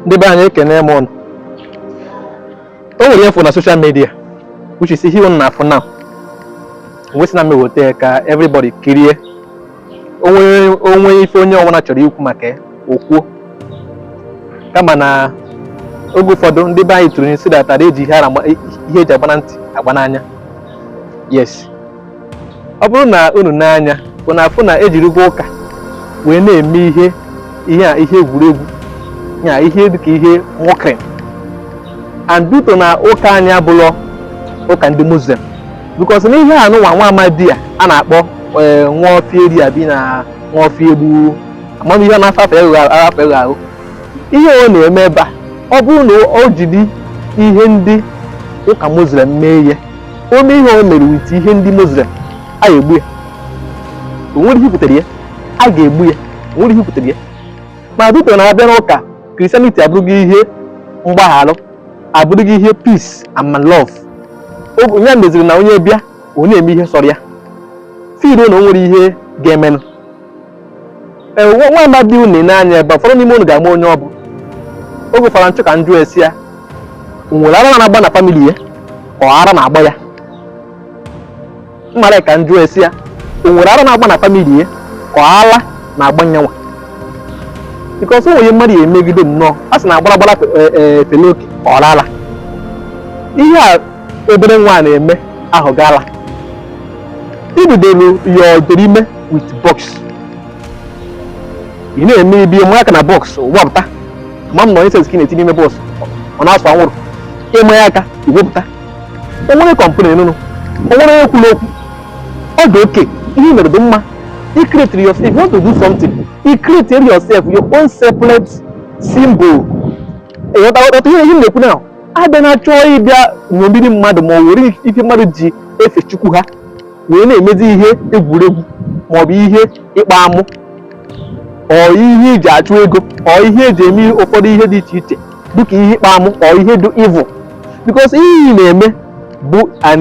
ndị be anyị ekene m ụnụ o nwere ihe m fụ na social media which is ihe ụnụ na-afụ now wee sị na m eweta ya ka everybody kirie o nwee ife onye ọbụla chọrọ ikwu maka ya o kwuo kama na oge ụfọdụ ndị be anyị tụrụ inu sị na a dara eji ihe ara- ihe eji agba na ntị agba n'anya yes ọ bụrụ na unu nee anya unu afụ na ejirigo ụka wee na-eme ihe ihe a ihe egwuregwu yeah ihe dịka ihe mockery and due to na ụka anyị abụlọ ụka ndị muslim because na ihe a nụnwa nwa amadị a a na-akpọ eh, nwa ọfịa eri abi na nwa ọfịa egbu amam ihe na-afọ afọ eghụ afọ eghụ ahụ ihe ọ na-eme ebe a ọ bụrụ na o jiri ihe ndị ụka muslim mee ihe o mee ihe o mere with ihe ndị Muslim a ga-egbu ya o nwere ihe pụtara ya a ga-egbu ya o nwere ihe pụtara ya ma due to na a bịa n'ụka Christianity abụrụgo ihe mgbagharụ abụrụgo ihe peace and love ọ bụ nya meziri na onye bịa ọ na-eme ihe sọrọ ya feel na o nwere ihe ga-emenụ ee nwa nwa amadị unu na-ene anya ebe a, ụfọdụ n'ime unu ga-ama onye ọ bụ oge ụfọdụ m chọ ka m jụ ese ya o nwere ara na-agba na family ya ọ ara na-agba ya m mara ka m jụ ese ya o nwere ara na-agba na family ya ka ọ ala na-agba nyanwa because o nwee ihe mmadụ ya emegide nnọọ a sị na agbara agbara fele oke ọ ara ihe a obere nwa a na-eme abụgo ala i bidoro ya i bidoro ime with box ị na-eme ị bịa ma aka na box wepụta amam na ọ incense ka ị na-etinye n'ime box ọ na-asụ anwụrụ ị ma ya aka i wepụta o nwere complain ị nụnụ o nwere onye kwuru okwu ọ dị okay ihe i mere dị mma i create yourself if you want to do something i create yourself your own separate symbol ị ghọtatụ ihe ihe m na-ekwu now adị m achọ ị bịa ṅomiri mmadụ ma ọ were ihe mmadụ ji efe chukwu ha wee na-emezi ihe egwuregwu maọbụ ihe ịkpa amụ or ihe iji achụ ego or ihe eji eme ụfọdụ ihe dị iche iche dịka ihe ịkpa amụ or ihe dị evil because ihe ị na-eme bụ an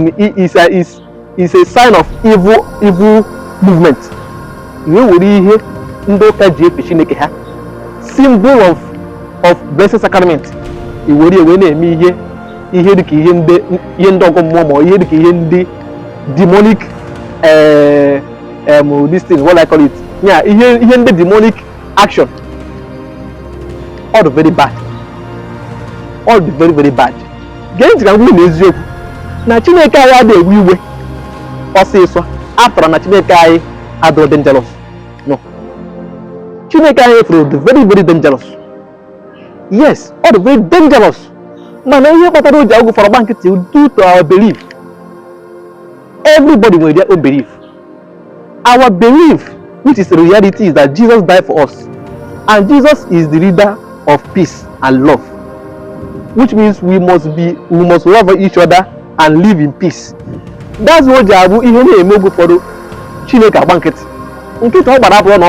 is is a sign of evil evil movement i wee were ihe ndị ụka ji efe chineke ha symbol of of blessed sacrament i were ya wee na-eme ihe ihe dịka ihe ndị ihe ndị ọgọ mmụọ ma ihe dịka ihe ndị demonic eh, em, this thing what I call it yeah ihe ihe ndị demonic action ọ dị very bad ọ dị very very bad gee ntị ka m na eziokwu na chineke anyị adịghị ewe iwe ọsịsọ apụtarọ na chineke anyị adịrọ dangerous no chineke anyị na-efe dị very very dangerous yes ọ dị very dangerous mana ihe kpatara o ji oge ụfọdụ agba nkịtị due to our belief everybody nwere their own belief Our belief, which is the reality, is that Jesus died for us. And Jesus is the leader of peace and love. Which means we must be we must love each other and live in peace. That's why o ji abụ ihe na-eme oge ụfọdụ Chineke agba nkịtị. Nkịtị ọ gbara abụrọ na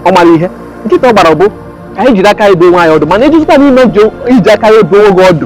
ọ marọ ihe. Nkịtị ọ gbara bụ ka anyị jiri aka anyị dụọ onwe anyị ọdụ mana ị jụzikwa na ị ma eji aka gị dụọ onwe gị ọdụ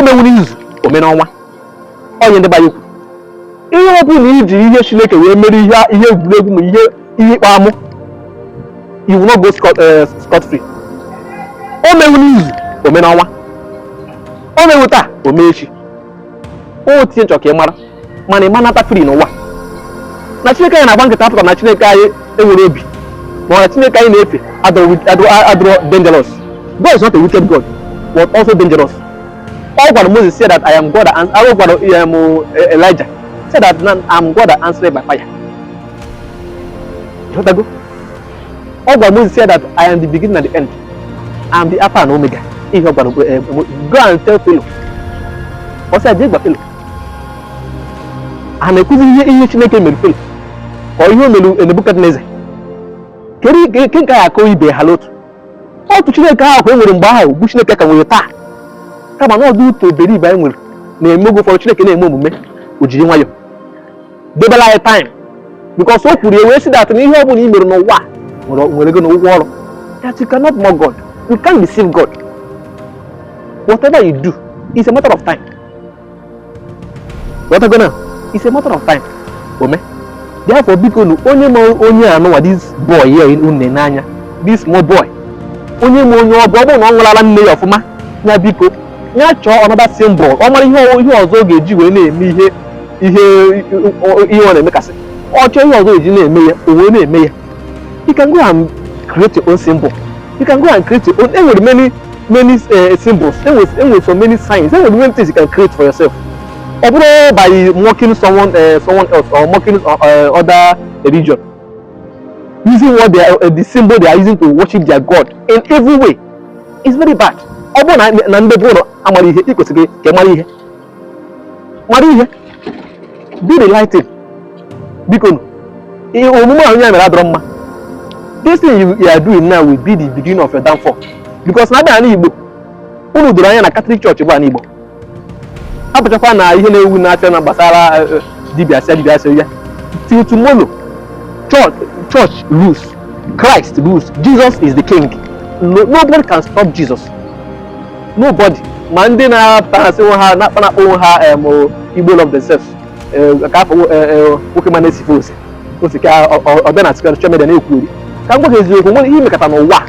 o meghu n'izu o mee n'ọnwa ọ ihe ndị be anyị kwuru ihe ọ bụla iji ihe chineke wee mere ihe ihe egwuregwu ma ihe ihe ịkpa amụ you will not go scot eh, scot free o meghu n'izu o mee n'ọnwa o meghu taa o mee echi otu ihe m chọrọ ka ị mara mana ị ma nata free n'ụwa na chineke anyị na-agba nkịtị apụtarọ na chineke anyị enwerọ obi ma na chineke anyị na-efe adịrọ dangerous God is not a wicked God but also dangerous ọ gwara Moses say that I am God and ọ gwara um, Elijah say that I am God that answered by fire ọ gwara Moses say that I am the beginning and the end I am the Alpha and Omega ihe ọ gwara eh, go and tell Pharaoh ọ sị ya jee gwa Pharaoh a na-ekwuzi ihe ihe Chineke mere Pharaoh ka ihe o mere Nebuchadnezzar kedu nke nke nke a ya-akọ ibe ha n'otu otu Chineke ahụ ka e nwere mgbe ahụ bụ Chineke ka e nwere taa kama na ọ due to the belief anyị nwere na-eme oge ụfọdụ Chineke na-eme omume o jiri nwayọọ debelu anyị time because o kwuru ya wee sị that na ihe ọ bụla i mere n'ụwa a nwere nwere gịnị ụgwọ ọrụ that you cannot mock God you can't deceive God whatever you do it's a matter of time ghọtago na it's a matter of time o mee therefore bikonu onye ma onye a nụwa this boy a unu na-ene anya this small boy onye ma onye ọ bụ ọ bụrụ na ọ ṅụrụ ala nne ya ọfụma ya biko ya chọọ another symbol ọ mara ihe ọ- ihe ọzọ ọ ga-eji wee na-eme ihe ihe ihe ọ na-emekasị ọ chọọ ihe ọzọ e ji na-eme ya o wee na-eme ya you can go and create your own symbol you can go and create your own e nwere many many uh, symbols e nwere e nwere so many signs e nwere many things you can create for yourself ọ bụrọ by mocking someone uh, someone else or mocking uh, uh, other religion using what they are, uh, the symbol they are using to worship their god in every way is very bad ọ bụrụ na ndị be unu amarọ ihe ị kwesịrị ka ị mara ihe mara ihe do the right thing biko omume ahụ ya mere adọrọ mma this thing you, you are doing now will be the beginning of your downfall because na a bịa n'Igbo unu doro anya na Catholic Church bụ n'Igbo apụchakwa na ihe na-ewu na-achọ na gbasara eh, eh, dibịa sịa dibịa sịa ya till tomorrow church church rules Christ rules Jesus is the king no, nobody can stop Jesus nobody ma ndị na-apụta ha sị nwe ha na-akpa na-akpọ onwe ha em, o, igbo love themselves Eh, ka afọ nwo- eh, eh, nwoke ma na-esife ose ose ka ọ- ọ- ọ bịa na social media na-ekwuri ka m gwa gị eziokwu nwere ihe i mekata n'ụwa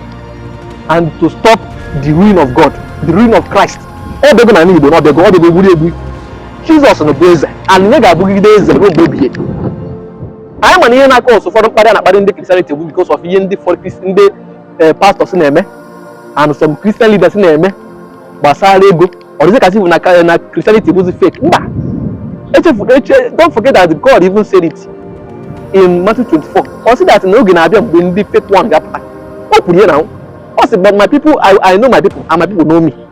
and to stop the reign of God the reign of christ ọ bịago na igbo na ọ bịago ọ bịago egburi egbu jizọs na bụ eze and ya ga-abụgide eze ruo mgbe ebighị ebi anyị ma na ihe na-akọsụ ụfọdụ mkparị a na-akparị ndị Christianity bụ because of ihe ndị ụfọdụ kristi ndị eh, pastors na-eme and some Christian leaders na-eme gbasara ego ọ dịzị ka a sị na ka- na Christianity bụzi fake mba echefu eche don't forget that God even said it in Matthew 24 ọ sị that na oge na-abịa mgbe ndị fake one ga-apụta o kwuru ya na ọ sị but my people I, I know my people and my people know me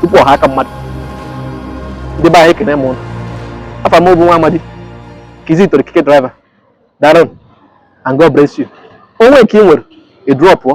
tupu ọ ghọọ aka mmadụ ndị be anyị ekene m unu afa m bụ nwa amadi Kizito Okike driver daalụ nụ and God bless you o nwee nke ị nwere ị drọpụọ